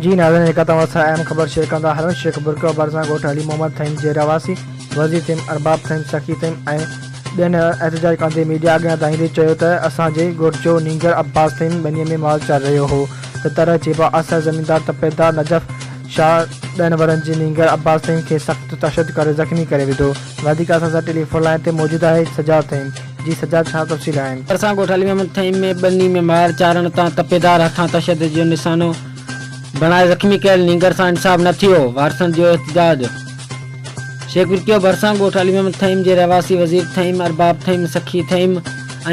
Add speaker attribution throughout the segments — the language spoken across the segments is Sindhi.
Speaker 1: جي ناظرين جيڪا توهان سان اهم خبر شيئر ڪندا هلون شيخ برڪيو آباد سان ڳوٺ علي محمد ٿهيم جي رهواسي وزير ٿهيم ارباب ٿهيم سخي ٿهيم ۽ ٻين احتجاج ڪندي ميڊيا اڳيان ادائيندي چيو ته اسان جي ڳوٺ جو نينگر عباس ٿهيم ٻني ۾ مال چار رهيو هو ته طرح چيبا اثر زميندار تپيدار نجف شاهه ڏهن ورهن جي نينگر عباس ٿهيم کي سخت تشدد ڪري زخمي ڪري وڌو. وڌيڪ عرصه سان ٽيليفون لائين تي موجود آهي سجاد ٿهيم. جي سجاد ڇا تفصيل آهن؟ ترسان ڳوٺ علي محمد ٿهيم
Speaker 2: ۾ ٻني ۾ ماهر چارڻ تان تپيدار هٿان تشدد جو نشانو بڻائي زخمي ڪيل نينگر سان انصاف نه ٿيو، وارثن جو احتجاج. شيخبرڪيو ڀرسان ڳوٺ علي محمد ٿهيم جي رهواسي وزير ٿهيم، ارباب ٿهيم، سخي ٿهيم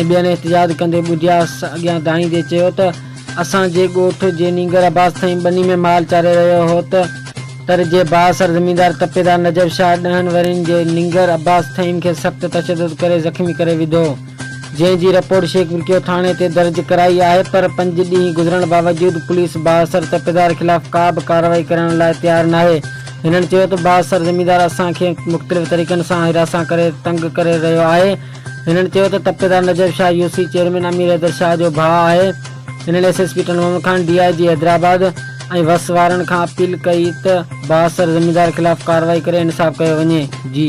Speaker 2: ۽ ٻين احتجاج ڪندي ٻڌيا اڳيان دانهيندي چيو ته، اسان جي ڳوٺ جي نينگر عباس ٿهين ٻني ۾ مال چاري رهيو هو ته تر جي بااثر زميندار تپيدار نجف شاهه ڏهن ورهين جي نينگر عباس ٿهين کي سخت تشدد ڪري زخمي ڪري وڌو جنهن جي رپورٽ شيخ برڪيو ٿاڻي تي درج ڪرائي آهي پر پنج ڏينهن گذرڻ باوجود پوليس بااثر تپيدار خلاف ڪا به ڪارروائي ڪرڻ لاء تيار ناهي هنن چيو ته بااثر زميندار اسان کي مختلف طريقن سان هراسان ڪري تنگ ڪري رهيو آهي هنن چيو ته تپيدار Najaf Shah U C chairman Amir Haider Shah جو ڀاء آهي، هنن S S P Tando Muhammad Khan, D I G Hyderabad ۽ وس وارن کان اپيل ڪئي ته بااثر زميندار خلاف ڪارروائي ڪري انصاف ڪيو وڃي. جي.